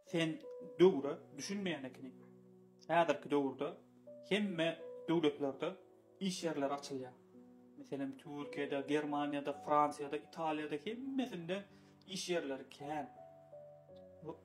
Sen döwre düşünmeýän ekeniň. Häzirki döwürde hemme döwletlerde iş ýerleri açylýar. Meselem, Türkiýede, Germaniýada, Fransiýada, Italiýada hemmesinde iş ýerleri kän.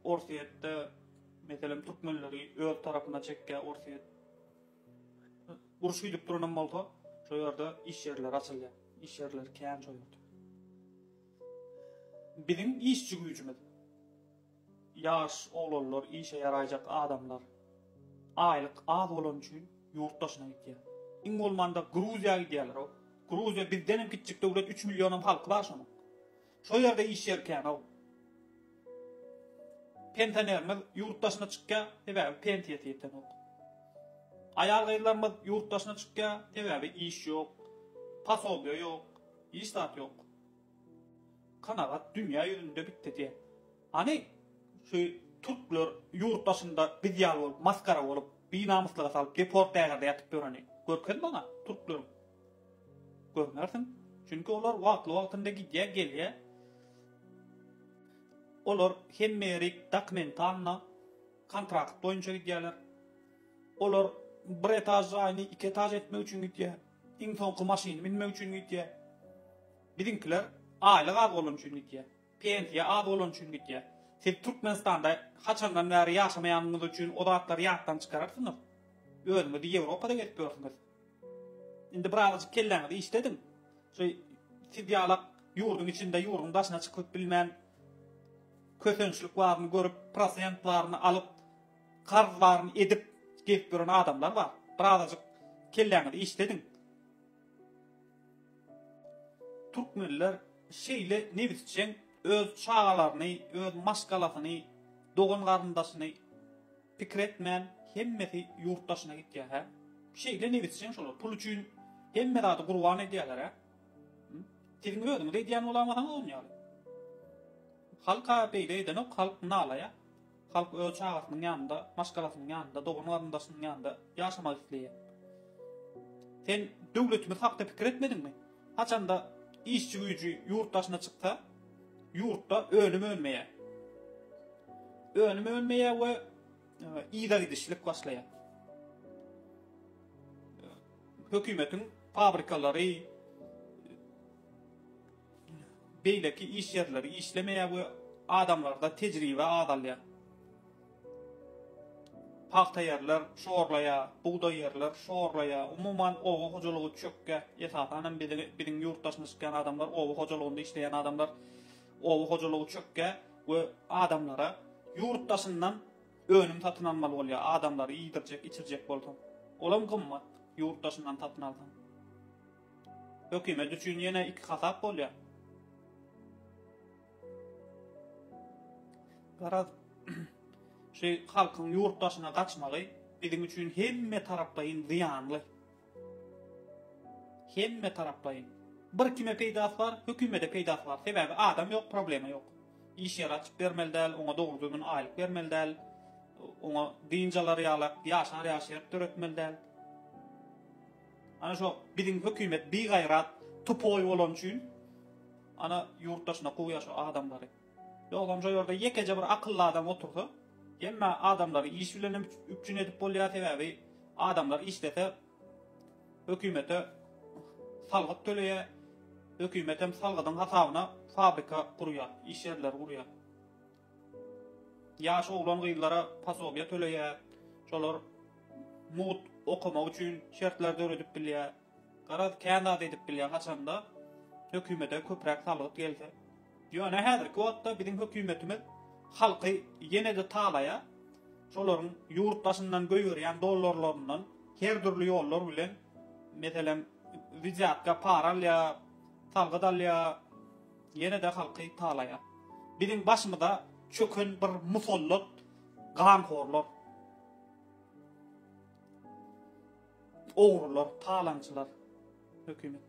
Orsýetde, meselem, türkmenleri öz tarapyna çekýär Orsýet. Uruş gidip duranam bolsa, şo ýerde iş ýerleri açylýar. Iş ýerleri kän şo ýerde. Biziň işçi güýjümiz, ýaş oglanlar, işe ýaraýjak adamlar, aýlyk az bolany üçin ýurt daşyna gitýär. Iň bolmanda Gruziýa gidýärler-ow. Gruziýa bizdenem kiçjik döwlet, üç millionam halky bar şonuň. Şo ýerde iş ýeri kän-ow. Pensionerimiz ýurt daşyna çykýar, sebäbi pensiýasy ýetenok. Aýal-gyzlarymyz ýurt daşyna çykýar, sebäbi iş ýok, posobiýa ýok, hiç zat ýok. Kanagat dünýä ýüzünde bitdi-de. Hany, şu türkler ýurt daşynda biz ýaly bolup, masgara bolup, binamyslyga salyp, deport ägirde ýatyp ýöreni? Görkez maňa türkleriň. Görmersiň. Çünki olar wagtly-wagtynda gidýär, gelýär. Olar hemme ýeri dokumentalna, kontrakt boýunça gidýärler. Olar bir etaž jaýyny iki etaž etmek üçin gidýär. Iň soňky maşyny münmek üçin gitýä. Biziňkiler aýlyk az bolany üçin gitýä. Pensiýa az bolany üçin gitýä. Siz Türkmenistanda haçandan bäri ýaşamaýanyňyz üçin o zatlary ýatdan çykararsyňyz. Özüňizi Ýewropada gezip ýörsüňiz. Indi birazajyk kelläňizi işlediň. Şu siz ýalak ýurduň içinde ýurduň daşyna çykyp bilmän kösençlik baryny görüp prosent baryny alyp Karz baryny edip gezip ýören adamlar bar. Birazajyk kelläňizi işlediň. Türkmenler şeýle nebisjeň öz çagalaryny, öz maşgalasyny, dogan garyndaşyny pikir etmän hemmesi ýurt daşyna gitýär hä. Şeýle nebisjeň şolar pul üçin hemme zady gurban edýärler hä. Siziň özüňiz edýän bolamasaňyz on ýaly. Halka beýle edenok halk nalaýa. Halk öz çagasynyň ýanynda, maşgalasynyň ýanynda, dogan-garyndaşynyň ýanynda ýaşamak isleýär. Sen döwletimiz hakda pikir etmediňmi? Haçanda işçi güýji ýurt daşyna çyksa, ýurtda önüm önmeýär. Önüm önmeýär we yzagidişlik başlaýar. Hökümetiň fabrikalary, beýleki iş ýerleri işlemeýär we adamlarda tejribe azalýar. Pagta ýerler şorlaýar, bugdaý ýerler şorlaýar, umuman oba hojalygy çökýär. Esasan hem biziň ýurtdaşymyz çykýan adamlar, oba hojalygynda işleýän adamlar, oba hojalygy çökýär we adamlara ýurt daşyndan önüm satyn almaly bolýar, adamlary iýdirjek, içirjek bolsaň, olam gymmat, ýurt daşyndan satyn alsaň. Hökümet üçin ýene iki hasap bolýar. Garaz, şu halkyň ýurt daşyna gaçmagy biziň üçin hemme taraplaýyn zyýanly. Hemme taraplaýyn. Bir kime peýdasy bar, hökümede peýdasy bar. Sebäbi adam ýok, problema ýok. Iş ýeri açyp bermeli däl, oňa dogry düzgün aýlyk bermeli däl. Oňa dynç alar ýalak, ýaşar ýaşaýak döretmeli däl. Ana şo biziň hökümet bigaýrat tupoý bolany üçin ana ýurt daşyna kowýar şo adamlary. Ýogsam şo ýerde ýekeje bir akylly adam otursa hemme adamlary iş bilen hem üpjün edip bolýar sebäbi adamlar işlese hökümete salgyt töleýär hökümet hem salgydyň hasabyna fabrika gurýar iş ýerleri gurýar. Ýaş oglan-gyzlara posobiýa töleýär, şolar mugt okamak üçin şertler döredip bilýär. Garaz, kän zat edip bilýär, haçanda hökümete köpräk salgyt gelse. Ýöne häzirki wagtda biziň hökümetimiz halky ýene-de talaýar, şolaryň ýurt daşyndan goýberýän dollarlaryndan her dürli ýollar bilen, meselem, widýatka para alýar, salgyt alýar. Ýene-de halky talaýar. Biziň başymyza çöken bir musallat ganhorlar, ogrular, talaňçylar hökümet.